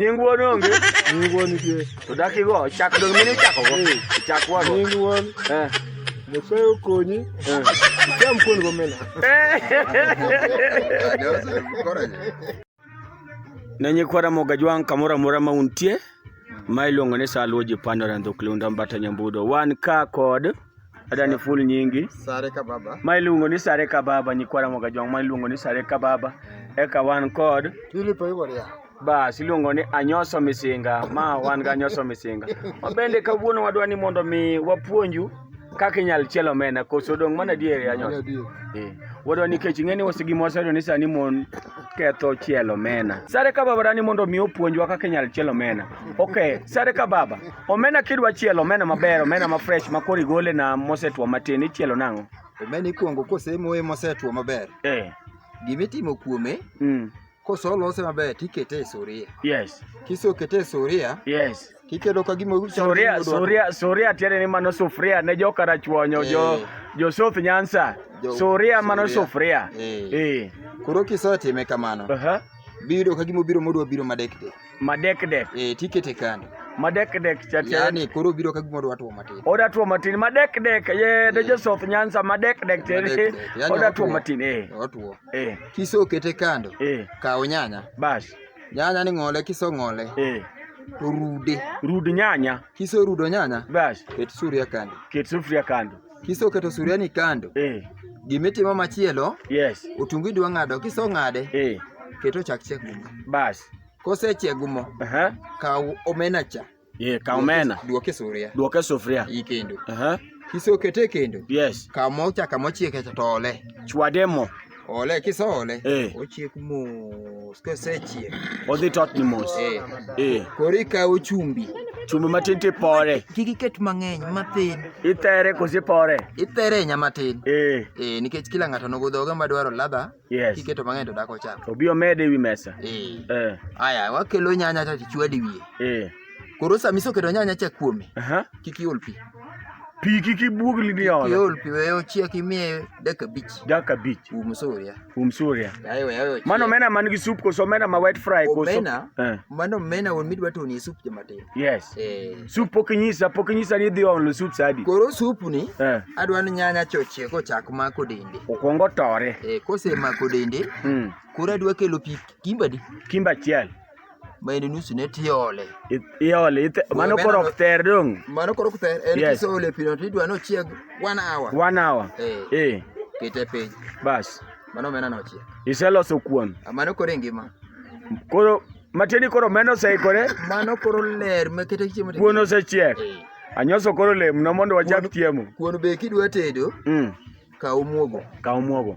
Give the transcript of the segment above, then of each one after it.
Nying wuon onge. Nying wuon nitie. To dak igo chak dong mine chako go. Eh. Chak wa go. Nying wuon. Eh. Nyasaye okonyi. Eh. Cham kuon go mena. Ne nyikwara Mogajwang' kamoro amora ma untie ma iluongo ni Saluo ji pandore Ndhukli Unda Mbata Nyambudo. Wan ka kod ada ni ful nyingi sare ka baba ma iluongo ni sare ka baba nyikwara moga jong ma iluongo ni sare ka baba eka wan kod Philip Iworia bas iluongo ni anyoso misinga ma wan ga anyoso misinga ma bende kawuono wadwa ni mondo mi wapuonju kaka inyal chielo omena koso dong mana diere anyoso eh, wadwa ni kech ing'e ni wasigimo waseyudo ni sani mon ketho chielo omena sare ka baba dani mondo mi opuonjwa kaka inyal chielo omena ok sare ka baba Omena kidwa chielo omena maber, omena ma fresh ma koro igole na mosetwo matin ichielo nang'o? Omena ikuongo kosemoye mosetwo maber. Eh. Gima itimo kuome, mm. kosolose maber tikete e suria. Yes. Kisekete e suria, yes. Tikedo ka gima suria suria suria tiende ni mano sufuria ne joka rachuonyo eh. jo jo South Nyanza. Jo, suria mano sufuria. Eh. eh. Koro kisetime kamano. Uh -huh. Biro ka gima obiro modwa biro madekde. Madekdek. Eh, tikete kando. Madekdek cha cha. Yaani koro biro ka gimoro watwo matin. Oda two matin madekdek ye de eh. Joseph Nyanza madekdek te. Yaani Oda two matin eh. Otwo. Eh. Kiso kete kando. Eh. Kawo nyanya. Bas. Nyanya ni ng'ole kiso ng'ole. Eh. Rude. Rud nyanya. Kiso rudo nyanya. Bas. Ket sufuria kando. Ket sufuria kando. kisoketo suriani kando eh. gimitimo machielo yes. otungu idwa ng'ado kisong'ade eh. keto chak chiek gumo bas kosechiek gumo uh -huh. kaw omena cha yeah, kaw omena duoke sufuria duoke sufuria ikendo uh -huh. kisokete kendo yes kaw mo cha kamochieke to ole chwade mo Ole kisole. Eh. Ochiek mos kosechiek. Odhi tot ni mos. Eh. Eh. Korika ochumbi. Chumbi matin ti pore. Kik iket mang'eny matin. Itere kosi pore. Itere nya matin. Eh. Eh nikech kila ng'ato nogo dhoge ma dwaro ladha. Yes. Kiketo mang'eny to dako cham. Obi omede wi mesa. Eh. Eh. Aya wakelo nyanya to chwadi wiye. Eh. Koro samiso keto nyanya cha kuome. Aha. Uh -huh. Kik iol pi. Pi kik ibuog li ni olo. Iol pi weyo chiek imiye dakika abich. Dakika abich. Um suria. Um suria. Ayo ayo. Mano omena man gi soup koso omena ma wet fry koso. Omena. Eh. Mano omena won midwa to ni soup joma tin. Yes. Eh. Soup pok inyisa pok inyisa ni dhi olo soup sadi. Koro soup ni. Eh. Adwa ni nyanya chochie ko chak ma ko dende. Okongo tore. Eh kose ma ko dende. Mm. Koro adwa kelo pi kimba di. Kimba chiel. ma en nusu ne tiole. Iole, ite- mano Wembe koro nano- ok ter dong. Mano koro kuther en Yes. kiseole pi no tidwa ni ochieg one hour. One hour. Eh. Eh, Kete piny. bas. Mano omena no ochiek. Iseloso kuon. Ah, Mano koro e ngima. Koro matieni koro meno oseikore, Mano koro ler ma kete chiemo. kuon osechiek. Eh. Anyoso koro lemno mondo wachak Kuon- chiemo. Kuon be kidwa tedo, Mm. kaw muogo. Kaw muogo.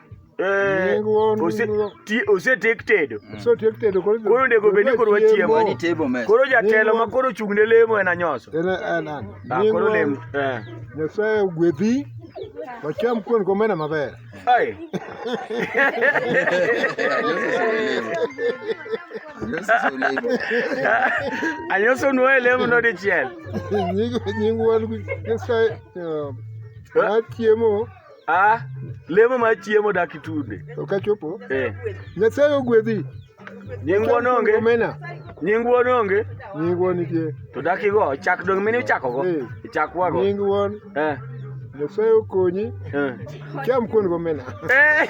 Eh, osetiek tedo mm. koro ndego bed ni koro wachiemo koro jatelo ma koro chung' ne lemo en anyoso ah, koro lemo eh. nyasaye ogwedhi wacham kuon gomena maber anyoso nuoye lemo nodichiel nying wuon nyasaye eh, wachiemo Ah, lemo mar chiemo dak itude. Ok achopo. Eh. Nyasaye ogwedhi. Nyingwa nonge. Omena. Nyingwa nonge. Nyingwa nitie. To dak igo chak dong mini chako go. Eh. Chak wago. Nyingwa. Eh. Nyasaye okonyi. Eh. Cham kuon gomena. Eh.